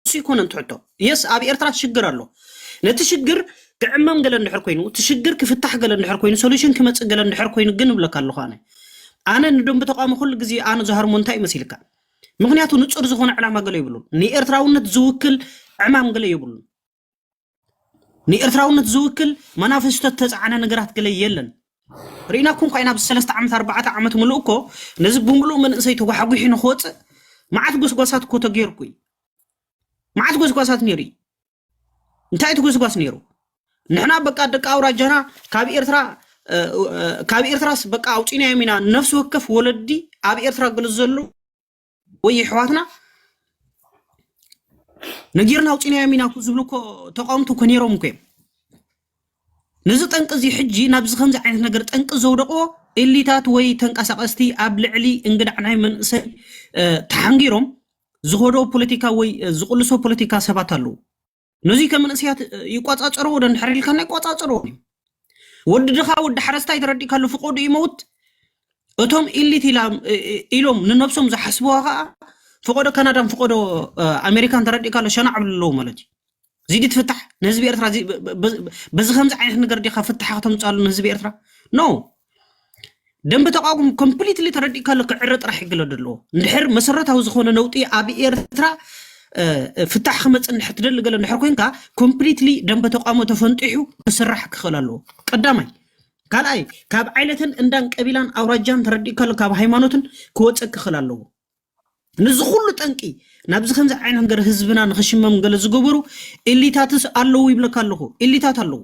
እሱ ኣይኮነን ትሕቶ የስ ኣብ ኤርትራ ትሽግር ኣሎ ነቲ ሽግር ክዕመም ገለ እንድሕር ኮይኑ እቲ ሽግር ክፍታሕ ገለ እንድሕር ኮይኑ ሶሉሽን ክመፅእ ገለ እንድሕር ኮይኑ ግን እብለካ ኣለኹ ኣነ ኣነ ንደንቢ ተቋሚ ኩሉ ግዜ ኣነ ዝሃርሞ እንታይ እዩ መሲልካ ምክንያቱ ንፁር ዝኾነ ዕላማ ገለ የብሉን ንኤርትራውነት ዝውክል ዕማም ገለ የብሉን ንኤርትራውነት ዝውክል መናፈስቶ ተፃዕነ ነገራት ገለ የለን ርኢናኩም ኳ ኢና ኣብዚ ሰለስተ ዓመት ኣርባዕተ ዓመት ምሉእ እኮ ነዚ ብምሉእ መንእሰይ ተጓሕጒሑ ንክወፅእ መዓት ጎስጓሳት እኮ ተገይርኩ እዩ መዓት ጎስጓሳት ነይሩ እዩ እንታይ እቲ ጎስጓስ ነይሩ ንሕና በቃ ደቂ ኣውራጃና ካብ ኤርትራ እ፣ እ፣ ካብ ኤርትራስ በቃ ኣውፂናዮም ኢና ነፍሲ ወከፍ ወለዲ ኣብ ኤርትራ ገለ ዘሎ ወይ የሕዋትና ነጊርና ኣውፂናዮም ኢና እኮ ዝብሉ እኮ ተቃወምቲ እኮ ነይሮም እኮ እዮም ነዚ ጠንቂ እዚ ሕጂ ናብዚ ከምዚ ዓይነት ነገር ጠንቂ ዘውደቕዎ ኤሊታት ወይ ተንቀሳቐስቲ ኣብ ልዕሊ እንግዳዕ ናይ መንእሰይ እ፣ ተሓንጊሮም ዝኸዶ ፖለቲካ ወይ እ፣ ዝቕልሶ ፖለቲካ ሰባት ኣለዉ ነዙይ ከም መንእሰያት ይቆፃፀርዎ ዶ እንድሕር ኢልካና ይቆፃፀርዎም እዩ ወዲ ድኻ ወዲ ሓረስታይ ተረዲእካሉ ፍቆዱ ይመውት እቶም ኢሊት ኢሎም ንነብሶም ዝሓስብዋ ከዓ ፍቆዶ ካናዳን ፍቆዶ ኣሜሪካን ተረዲእካሉ ሸናዕ ብልለዎ ማለት እዩ እዚ ዲ ትፍታሕ ንህዝቢ ኤርትራ በዚ ከምዚ ዓይነት ነገር ዲካ ፍታሕ ከተምፃሉ ንህዝቢ ኤርትራ ኖ ደንበ ተቃውሞ ኮምፕሊትሊ ተረዲእካ ኣሎ ክዕረ ጥራሕ ይግለ ደለዎ እንድሕር መሰረታዊ ዝኾነ ነውጢ ኣብ ኤርትራ ፍታሕ ክመፅእ እንድሕር ትደሊ ገለ እንድሕር ኮንካ ኮምፕሊትሊ ደንበ ተቃውሞ ተፈንጢሑ ክስራሕ ክኽእል ኣለዎ ቀዳማይ ካልኣይ ካብ ዓይነትን እንዳን ቀቢላን ኣውራጃን ተረዲእካ ኣሎ ካብ ሃይማኖትን ክወፀእ ክኽእል ኣለዎ ንዚ ኩሉ ጠንቂ ናብዚ ከምዚ ዓይነት ገር ህዝብና ንክሽመም ገለ ዝገበሩ ኤሊታትስ ኣለዉ ይብለካ ኣለኹ ኤሊታት ኣለዉ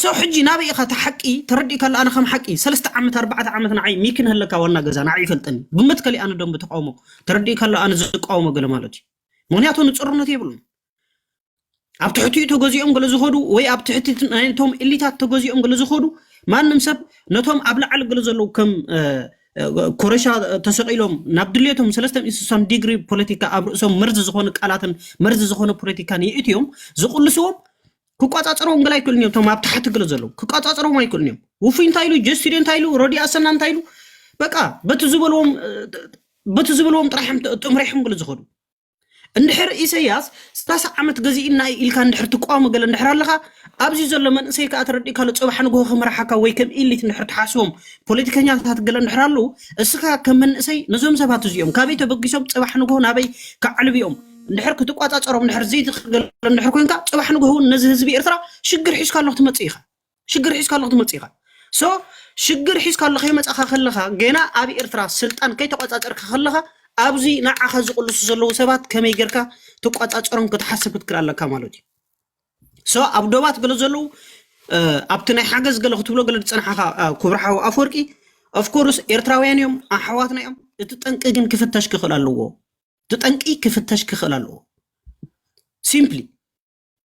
ሰው ሕጂ ናበይ ኢኻ እቲ ሓቂ ተረዲእካ ኣሎ ኣነ ከም ሓቂ ሰለስተ ዓመት ኣርባዕተ ዓመት ንዓይ ሚኪ ንህለካ ዋና ገዛ ንዓይ ይፈልጠኒ ብመትከሊ ኣነ ደንብ ተቃውሞ ተረዲእካ ኣሎ ኣነ ዝቃወሞ ገለ ማለት እዩ ምክንያቱ ንፅርነት የብሉን ኣብ ትሕቲኡ ተገዚኦም ገለ ዝኸዱ ወይ ኣብ ትሕቲ ናይቶም ኢሊታት ተገዚኦም ገለ ዝኸዱ ማንም ሰብ ነቶም ኣብ ላዕሊ ገለ ዘለዉ ከም ኮረሻ ተሰቂሎም ናብ ድሌቶም ሰለስተን እንስሳን ዲግሪ ፖለቲካ ኣብ ርእሶም መርዚ ዝኾኑ ቃላትን መርዚ ዝኾነ ፖለቲካን ይእትዮም ዝቕልስዎም ክቆፃፀርዎም ግላ ኣይክእሉን እዮም እቶም ኣብ ታሕቲ ግለ ዘለዉ ክቆፃፀርዎም ኣይክእሉን እዮም ውፉይ እንታይ ኢሉ ጀስቲድ እንታይ ኢሉ ረዲ ኣሰና እንታይ ኢሉ በቃ በቲ ዝበልዎም በቲ ዝበልዎም ጥራሕ እዮም ጥ- ጥምሪሖም ግለ ዝኸዱ እንድሕር ኢሰያስ ስታስ ዓመት ገዚእና እዩ ኢልካ እንድሕር ትቃወሞ ገለ እንድሕር ኣለኻ ኣብዚ ዘሎ መንእሰይ ከዓ ተረዲእካ ኣሎ ፅባሕ ንግሆ ክመርሓካ ወይ ከም ኢሊት እንድሕር ትሓስቦም ፖለቲከኛታት ገለ እንድሕር ኣለዉ እስኻ ከም መንእሰይ ነዞም ሰባት እዚኦም ካበይ ተበጊሶም ፅባሕ ንግሆ ናበይ ከዕልብዮም እንድሕር ክትቋፃፀሮም እንድሕር ዘይትኽእል እንድሕር ኮንካ ፅባሕ ንግሆ እውን ነዚ ህዝቢ ኤርትራ ሽግር ሒዝካ ኣሎ ክትመፅእ ኢኻ ሽግር ሒዝካ ኣለኹ ትመጽእ ኢኻ ሶ ሽግር ሒዝካ ኣሎ ከይመጻኻ ከለኻ ገና ኣብ ኤርትራ ስልጣን ከይተቆጻጸርካ ከለኻ ኣብዚ ንዓኻ ዝቕልሱ ዘለዉ ሰባት ከመይ ጌርካ ትቆጻጸሮም ክትሓስብ ክትክል ኣለካ ማለት እዩ ሶ ኣብ ዶባት ገለ ዘለዉ ኣብቲ ናይ ሓገዝ ገለ ክትብሎ ገለ ዝፀናሓኻ ክብሪ ሓው ኣፈወርቂ ኦፍኮርስ ኤርትራውያን እዮም ኣሕዋትና እዮም እቲ ጠንቂ ግን ክፍተሽ ክኽእል ኣለዎ እቲ ጠንቂ ክፍተሽ ክኽእል ኣለዎ ሲምፕሊ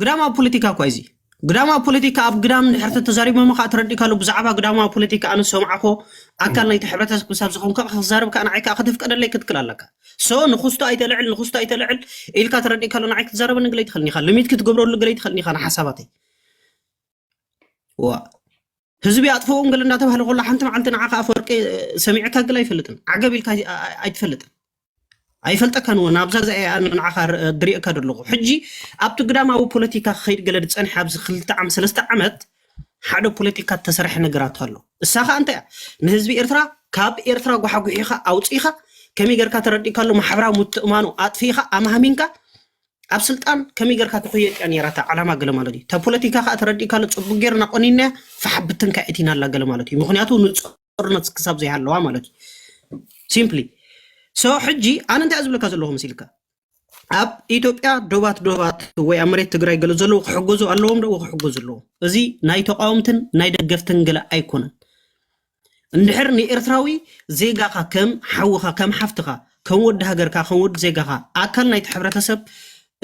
ግዳማዊ ፖለቲካ እኳ እዚ ግዳማዊ ፖለቲካ ኣብ ግዳም ድሕር ተተዛሪቦም ከዓ ተረዲካሉ ብዛዕባ ግዳማዊ ፖለቲካ ኣነ ሰምዓኮ ኣካል ናይቲ ሕብረተሰብ ክሳብ ዝኾንካ ክዛረብ ከዓ ንዓይ ከዓ ከተፍቀደለይ ክትክል ኣለካ ሶ ንክስቶ ኣይተልዕል ንክስቶ ኣይተልዕል ኢልካ ተረዲካሉ ንዓይ ክትዛረበኒ ግለይ ትኽእልኒ ኢኻ ልሚት ክትገብረሉ ግለይ ትኽእልኒ ኢኻ ንሓሳባተይ ዋእ ህዝቢ ኣጥፍኦም ገለ እንዳተባህለ ኮላ ሓንቲ መዓልቲ ንዓኻ ኣፈወርቂ እ፣ ሰሚዕካ ግለ ኣይፈልጥን ዓገብ ኢልካ ኣይ- ኣይ- ኣይትፈልጥን ኣይፈልጠካን እውን ኣብዛ እዚኣ እያ ኣነ ንዓኻ ር- ድሪእካ ዘለኹ ሕጂ ኣብቲ ግዳማዊ ፖለቲካ ክኸይድ ገለ ዝፀንሐ ኣብዚ ክልተ ዓመት ሰለስተ ዓመት ሓደ ፖለቲካ እተሰርሐ ነገራት ኣሎ እሳ ከዓ እንታይ እያ ንህዝቢ ኤርትራ ካብ ኤርትራ ጓሓጒሒኻ ኣውፂኢኻ ከመይ ጌርካ ተረዲእካ ኣሎ ማሕበራዊ ምትእማኑ ኣጥፊኢኻ ኣማህሚንካ ኣብ ስልጣን ከመይ ጌርካ ትኹየጥ እያ ነይራ እታ ዕላማ ገለ ማለት እዩ እታ ፖለቲካ ከዓ ተረዲእካሉ ፅቡቅ ጌርና ቆኒንናያ ፋሕ ብትን ከዓ እቲና ኣላ ገለ ማለት እዩ ምክንያቱ ንፆርነት ክሳብ ዘይሃለዋ ማለት እዩ ሲምፕሊ ሶ ሕጂ ኣነ እንታይ እየ ዝብለካ ዘለኹ መሲልካ ኣብ ኢትዮጵያ ዶባት ዶባት ወይ ኣብ መሬት ትግራይ ገለ ዘለዉ ክሕገዙ ኣለዎም ዶ ክሕገዙ ኣለዎም እዚ ናይ ተቃወምትን ናይ ደገፍትን ገለ ኣይኮነን እንድሕር ንኤርትራዊ ዜጋኻ ከም ሓውኻ ከም ሓፍትኻ ከም ወዲ ሃገርካ ከም ወዲ ዜጋኻ ኣካል ናይቲ ሕብረተሰብ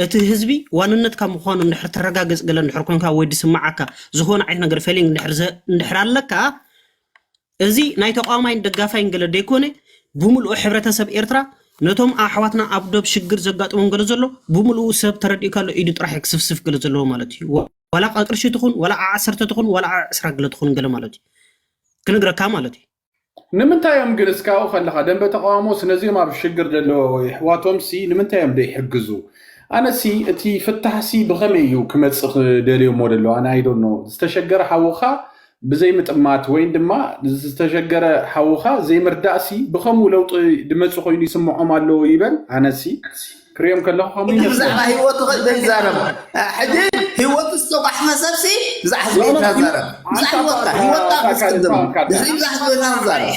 እቲ ህዝቢ ዋንነትካ ምዃኑ እንድሕር ተረጋግጽ ገለ እንድሕር ኮንካ ወይ ዝስምዓካ ዝኾነ ዓይነት ነገር ፌሊንግ እንድሕር ዘ- እንድሕር ኣለካ እዚ ናይ ተቃዋማይን ደጋፋይን ገለ ዘይኮነ ብምልኡ ሕብረተሰብ ኤርትራ ነቶም ኣሕዋትና ኣብ ዶብ ሽግር ዘጋጥሞም ገለ ዘሎ ብምልኡ ሰብ ተረዲእካሉ ኢዱ ጥራሕ እዩ ክስፍስፍ ገለ ዘለዎ ማለት እዩ ዋላ ቃ ቅርሺ ትኹን ዋላ ዓ ዓሰርተ ትኹን ዋላ ዓ ዕስራ ግለ ትኹን ገለ ማለት እዩ ክንግረካ ማለት እዩ ንምንታይ እዮም ግን እስካ ኣብኡ ከለካ ደንበ ተቃውሞስ ነዚኦም ኣብ ሽግር ዘለዎ የሕዋቶምሲ ንምንታይ እዮም ዘይሕግዙ ኣነሲ እቲ ፍታሕሲ ብከመይ እዩ ክመጽእ ደልዮሞ ደለዉ ኣነ ኣይ ዶንት ኖው ዝተሸገረ ሓውካ ብዘይምጥማት ወይን ድማ ዝተሸገረ ሓውኻ ዘይምርዳእሲ ብኸምኡ ለውጢ ድመጽእ ኮይኑ ይስምዖም ኣሎ ይበል ኣነሲ ክሪኦም ከለኹ ከምኡ ይመስለኒ ብዛዕባ ህይወቱ ዘይዛረብ ሕጂ ህይወቱ ዝተጓሕፈ ሰብሲ ብዛዕባ ህዝቤታ ዛረብ ብዛዕባ ህይወትካ ህይወትካ ክትቅድም ድሕሪ ብዛዕባ ህዝቤታ ዛረብ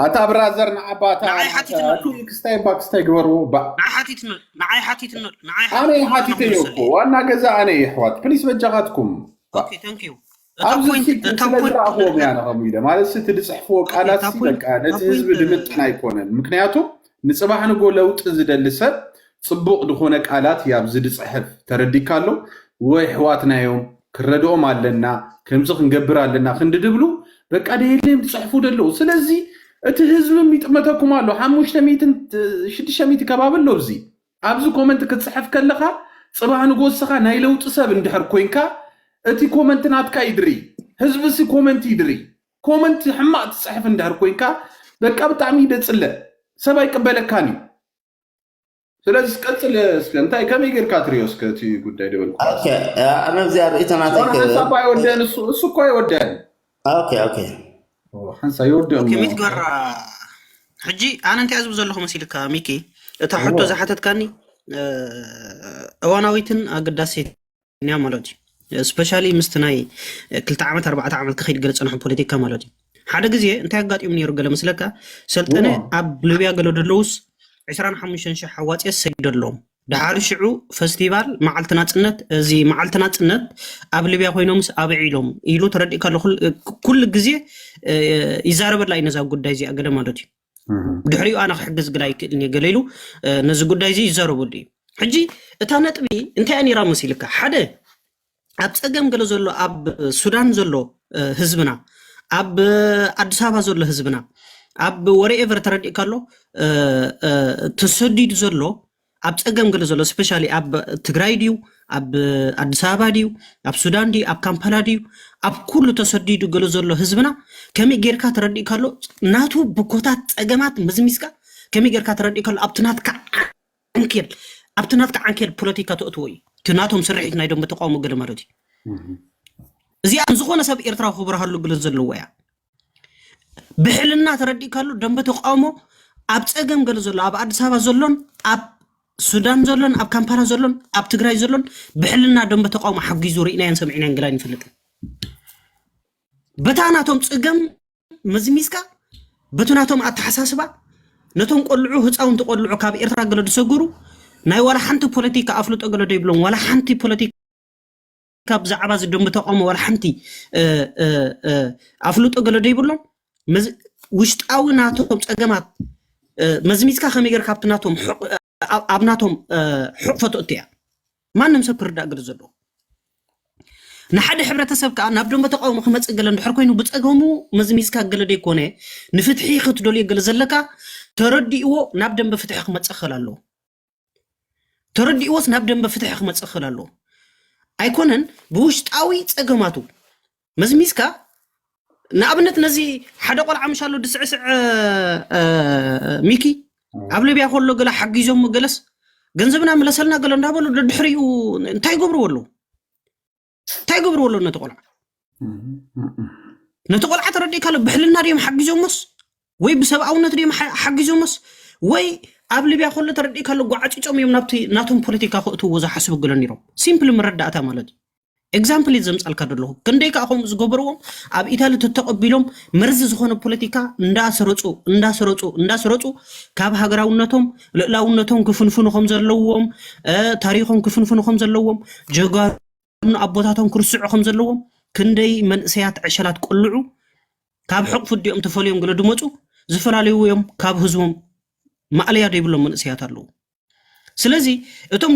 ኣታ ብራዘር ንዓባታ ንዓይ ሓቲትመ ክስታይ እባ ክስታይ ግበርዎ ባእ ንዓይ ሓቲትመ ንዓይ ሓቲትመ ንዓይ ኣነ ሓቲትመ ሓቲተዮ እኮ ንኽንሰ ዋና ገዛ ኣነ የሕዋት ፕሊስ በጃኻትኩም ኦኬ ታንክ ዩ ኣብዚ ፊት ስለዝረኣኽዎም እያ ከምኡ ኢለ ማለት እቲ ዝፅሕፍዎ ቃላት በቃ ነቲ ህዝቢ ድምጥን ኣይኮነን ምክንያቱ ንፅባሕ ንጎ ለውጢ ዝደሊ ሰብ ፅቡቅ ድኾነ ቃላት እዩ ኣብዚ ድፅሕፍ ተረዲካ ኣሎ ወይ ሕዋትና እዮም ክንረድኦም ኣለና ከምዚ ክንገብር ኣለና ክንዲ ድብሉ በቃ ደየለዮም ድፅሕፉ ደለዉ ስለዚ እቲ ህዝብም ይጥመተኩም ኣሎ ሓሙሽተ ሚትን ሽዱሽተ ሚቲ ከባቢ ኣሎ እዚ ኣብዚ ኮመንት ክትጽሕፍ ከለኻ ጽባህ ንጎስኻ ናይ ለውጢ ሰብ እንድሕር ኮንካ እቲ ኮመንት ናትካ ይድሪ ህዝብሲ ኮመንት ይድሪ ኮመንት ሕማቅ ትጽሕፍ እንድሕር ኮንካ በቃ ብጣዕሚ ደጽለ ሰብ ኣይቅበለካን እዩ ስለዚ ቀጽል እስከ እንታይ ከመይ ጌርካ ትሪኦ እስከ እቲ ጉዳይ ደበልኩ ኦኬ ኣነ እዚኣ ርእይቶ ናተይ ጾንዓን ክህብ ሳባ ኣይወደን እሱ እሱ እኮ ኣይወደን ኦኬ ኦኬ ሓንሳ ይወድኦ ኦኬ ሚት ገራ ሕጂ ኣነ እንታይ እያ ዝብል ዘለኹ መሲልካ ሚኪ እታ ሕቶ ዝሓተትካኒ እ፣ እዋናዊትን ኣገዳሲትን እያ ማለት እዩ ስፔሻሊ ምስቲ ናይ ክልተ ዓመት ኣርባዕተ ዓመት ክኸይድ ገለ ፀንሖ ፖለቲካ ማለት እዩ ሓደ ግዜ እንታይ ኣጋጢሙ ነይሩ ገለ መስለካ ሰልጠነ ኣብ ሊብያ ገለ ደለውስ 25 ሽሕ ኣዋፅኦ ሰጊደሎም ድሓር ሽዑ ፈስቲቫል መዓልቲ ናጽነት እዚ መዓልቲ ናጽነት ኣብ ሊብያ ኮይኖምስ ኣብዒሎም ኢሉ ተረዲእ ከሎ ኩሉ ግዜ ይዛረበላ እዩ ነዛ ጉዳይ እዚኣ ገለ ማለት እዩ ድሕሪኡ ኣነ ክሕግዝ ግዳ ኣይክእልን እየ ገለ ኢሉ ነዚ ጉዳይ እዚ ይዛረበሉ እዩ ሕጂ እታ ነጥቢ እንታይ እያ ነይራ መሲልካ ሓደ ኣብ ፀገም ገለ ዘሎ ኣብ ሱዳን ዘሎ ህዝብና ኣብ ኣዲስ ኣበባ ዘሎ ህዝብና ኣብ ወሬኤቨር ተረዲእካ ኣሎ ተሰዲዱ ዘሎ ኣብ ፀገም ገለ ዘሎ ስፔሻሊ ኣብ ትግራይ ድዩ ኣብ ኣዲስ ኣበባ ድዩ ኣብ ሱዳን ድዩ ኣብ ካምፓላ ድዩ ኣብ ኩሉ ተሰዲዱ ገለ ዘሎ ህዝብና ከመይ ጌርካ ተረዲእካ ኣሎ ናቱ ብኮታት ፀገማት መዝሚዝካ ከመይ ጌርካ ተረዲእካ ኣሎ ኣብቲ ናትካ ዓንኬል ኣብቲ ናትካ ዓንኬል ፖለቲካ ተእትዎ እዩ እቲ ናቶም ስርሒት ናይ ደንበ ተቃውሞ ገለ ማለት እዩ እዚኣ ዝኾነ ሰብ ኤርትራዊ ክብርሃሉ ግለት ዘለዎ እያ ብሕልና ተረዲእካሉ ደንበ ተቃውሞ ኣብ ፀገም ገለ ዘሎ ኣብ ኣዲስ ኣበባ ዘሎን ኣብ ሱዳን ዘሎን ኣብ ካምፓላ ዘሎን ኣብ ትግራይ ዘሎን ብሕልና ደንበ ተቃውሞ ሓጊዙ ርኢናዮን ሰሚዕናዮን ገላን ይፈልጥን በታ ናቶም ፅገም መዝሚዝካ በቲ ናቶም ኣተሓሳስባ ነቶም ቆልዑ ህፃውንቲ ቆልዑ ካብ ኤርትራ ገለ ዝሰገሩ ናይ ዋላ ሓንቲ ፖለቲካ ኣፍልጦ ገለ ዶ ይብሎም ዋላ ሓንቲ ፖለቲካ ብዛዕባ እዚ ደንቢ ተቃውሞ ዋላ ሓንቲ ኣፍልጦ ገለ ዶ ይብሎም ውሽጣዊ ናቶም ፀገማት መዝሚዝካ ከመይ ጌርካ ካብቲ ናቶም ኣብ ናቶም ሕቕፈቶ እትያ ማንም ሰብ ክርዳእ ግድ ዘለዎ ንሓደ ሕብረተሰብ ከዓ ናብ ደንበ ተቃውሞ ክመፅእ ገለ እንድሕር ኮይኑ ብፀገሙ መዝሚዝካ ገለ ዘይኮነ ንፍትሒ ክትደልዮ ገለ ዘለካ ተረዲእዎ ናብ ደንበ ፍትሒ ክመፅእ ክኽእል ኣለዎ ተረዲእዎስ ናብ ደንበ ፍትሒ ክመፅእ ክኽእል ኣለዎ ኣይኮነን ብውሽጣዊ ፀገማቱ መዝሚዝካ ንኣብነት ነዚ ሓደ ቆልዓ ምሻ ኣሎ ድስዕስዕ ሚኪ ኣብ ሊብያ ከሎ ገለ ሓጊዞም ገለስ ገንዘብና ምለሰልና ገለ እንዳበሉ ድሕሪኡ እንታይ ገብርዎ ኣለዉ እንታይ ገብርዎ ኣለዉ ነቲ ቆልዓ ነቲ ቆልዓ ተረዲእካ ኣሎ ብሕልና ድዮም ሓጊዞሞስ ወይ ብሰብኣውነት ድዮም ሓ- ሓጊዞሞስ ወይ ኣብ ሊብያ ከሎ ተረዲእካ ኣሎ ጓዓጪጮም እዮም ናብቲ ናቶም ፖለቲካ ክእትዎ ዝሓስቡ ገለ ነይሮም ሲምፕል መረዳእታ ማለት እዩ ኤግዛምፕል እዩ ዘምፃልካ ዘለኹ ክንደይ ከዓ ከምኡ ዝገበርዎም ኣብ ኢታሊ ተተቐቢሎም መርዚ ዝኾነ ፖለቲካ እንዳስረፁ እንዳስረፁ እንዳስረፁ ካብ ሃገራውነቶም ልእላውነቶም ክፍንፍኑ ከም ዘለዎም እ፣ ታሪኾም ክፍንፍኑ ከም ዘለዎም ጀጋሩ ኣምኑ ኣቦታቶም ክርስዑ ከም ዘለዎም ክንደይ መንእሰያት ዕሸላት ቆልዑ ካብ ሕቕፉ ዲኦም ተፈልዮም ገለ ድመጹ ዝፈላለዩ እዮም ካብ ህዝቦም ማእለያ ዘይብሎም መንእሰያት ኣለዉ ስለዚ እቶም